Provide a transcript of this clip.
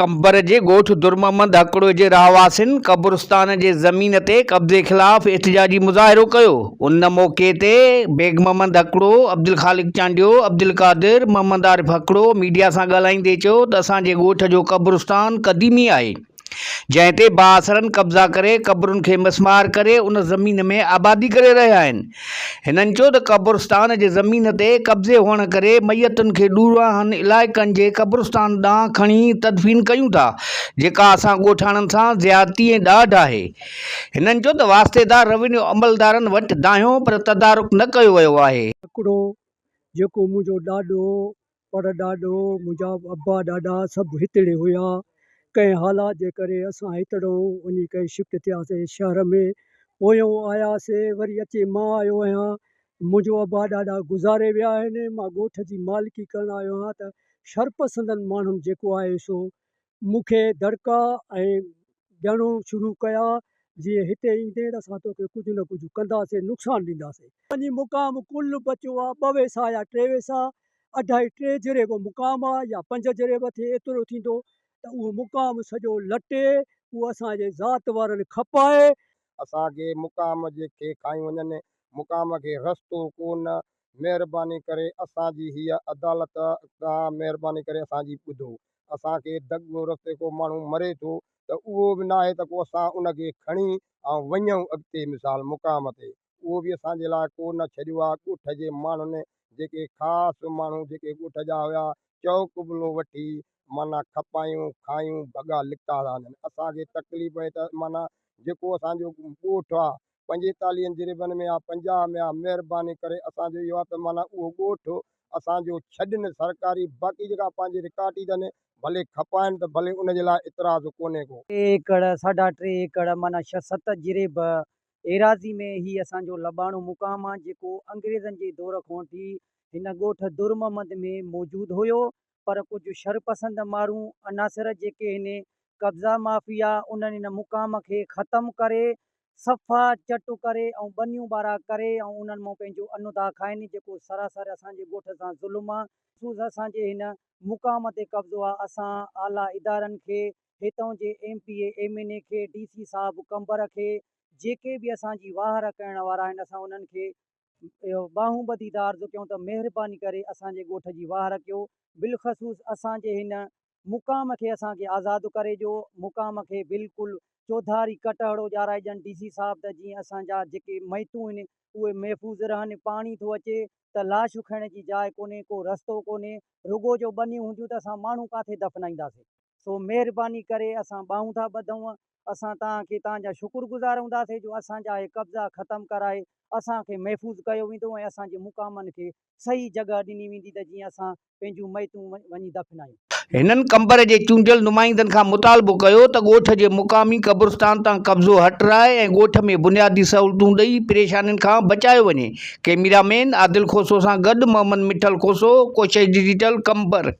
قمبر جي ڳوٺ درمحمد هڪڙوء جي رهواسين قبرستان جي زمين تي قبضي خلاف احتجاجي مظاهرو ڪيو، ان موقعي تي بيگ محمد هڪڙو، عبدالخالق چانڊيو، عبدالقادر، محمد عارف هڪڙو ميڊيا سان ڳالهائيندي چيو ته اسان جي ڳوٺ جو قبرستان قديمي آهي جنهن تي بااثرن قبضا ڪري قبرن کي مسمار ڪري ان زمين ۾ آبادي ڪري رهيا آهن، هنن چيو ته قبرستان جي زمين تي قبضي هئڻ ڪري ميتن کي ڏورانهن علائقن جي قبرستان ڏانهن کڻي تدفين ڪيون ٿا جيڪا اسان ڳوٺاڻن سان زيادتي ۽ ڏاڍ آهي هنن چيو ته واسطيدار روينيو عملدارن وٽ دانهيو پر تدارڪ نه ڪيو ويو آهي. هڪڙو جيڪو منهنجو ڏاڏو پر ڏاڏو، منهنجا ابا ڏاڏا سڀ هتڙي هيا. ڪنهن حالات جي ڪري اسان هتڙئون وڃي ڪري شفٽ ٿياسين شهر ۾. پويون آياسين وري اچي مان آيو آهيان. منهنجو ابا ڏاڏا گذاري ويا آهن. مان ڳوٺ جي مالڪي ڪرڻ آيو آهيان ته شرپسندن ماڻهن جيڪو آهي سو مون کي دڙڪا ۽ ڄڻو شروع ڪيا جي هتي ايندين اسان توکي ڪجهه نه ڪجهه ڪنداسين نقصان ڏينداسين. وڃي مقام ڪل بچو آ ٻه ويسا يا ٽي ويسا اڍائي ٽي جري به مقام آ يا پنج جري به ٿئي ايترو ٿيندو ته اهو مقام سڄو لٽي اهو اسان جي ذات وارن کپائي. اسان کي مقام جي کي کائي وڃن مقام کي رستو ڪو نه مهرباني ڪري اسان جي هيء عدالت کان مهرباني ڪري اسان جي ٻڌو. اسان کي دڳ رستي ڪو ماڻهو مري ٿو ته اهو به ناهي ته ڪو اسان ان کي کڻي ۽ وڃون اڳتي مثال مقام تي. اهو به اسان جي لاء ڪو نه ڇڏيو آهي ڳوٺ جي ماڻهن جيڪي خاص ماڻهو جيڪي ڳوٺ جا هيا چئو قبلو وٺي معنيٰ کپايون کايون ڀڳا لڪا ٿا وڃن. اسان کي تڪليف اهي ته معنيٰ جيڪو اسان جو ڳوٺ آهي پنجيتاليهن جريبن ۾ آ پنجاهه ۾ آ مهرباني ڪري اسان جو اهو آ ته معنيٰ اهو ڳوٺ اسان جو ڇڏن سرڪاري باقي جيڪا پنهنجي رڪارٽ ئي ڏن ڀلي کپائن ته ڀلي ان جي لاء اعتراض ڪونهي ڪو. ٽي ايڪڙ ساڍا ٽي ايڪڙ معنيٰ ڇهه ست جريب ايراضي ۾ هي اسان جو لٻاڻو مقام آ جيڪو انگريزن جي دور کان وٺي هن ڳوٺ درمحمد ۾ موجود هيو پر ڪجهه شرپسند مارون عناصر جيڪي هن قبضا مافيا انهن ان مقام کي ختم ڪري صفا چٽ ڪري ۽ ٻنيون ٻارا ڪري ۽ انهن مان پنهنجو ان ادا کائن جيڪو سراسر اسان جي ڳوٺ سان ظلم آ. مخصوص اسان جي هن مقام تي قبضو آ اسان اعليٰ ادارن کي هتئون جي M P A M N A کي ڊي سي صاحب قمبر کي جيڪي به اسان جي واهر ڪرڻ وارا آهن اسان انهن کي اهو ٻانهون ٻڌي ته عرض ڪيون ته مهرباني ڪري اسان جي ڳوٺ جي واهه رکيو، بالخصوص اسان جي هن مقام کي اسان کي آزاد ڪري ڏيو، مقام کي بلڪل چوڌاري ڪٽهڙو ڄارائجن ڊي سي صاحب ته جيئن اسان جا جيڪي ميتون هن اهي محفوظ رهن، پاڻي ٿو اچي ته لاش رکڻ جي جاء ڪونهي، ڪو رستو ڪونهي، رڳو جو ٻنيون هونديون ته اسان ماڻهو ڪاٿي دفنائينداسين، سو مهرباني ڪري اسان ٻانهون ٿا ٻڌون اسان توهان کي توهان جا شڪر گذار هونداسين جو اسان جا هي قبضا ختم ڪرائي اسان کي محفوظ ڪيو ويندو ۽ اسان جي مقامن کي صحيح جڳهه ڏني ويندي ته جيئن اسان پنهنجون ميتون وڃي دفنايون. هنن قمبر جي چونڊيل نمائندن کان مطالبو ڪيو ته ڳوٺ جي مقامي قبرستان تان قبضو هٽرائي ۽ ڳوٺ ۾ بنيادي سهولتون ڏئي پريشانين کان بچايو وڃي. ڪيميرا مين عادل کوسو سان گڏ محمد مٺل کوسو، ڪوشش ڊجيٽل، قمبر.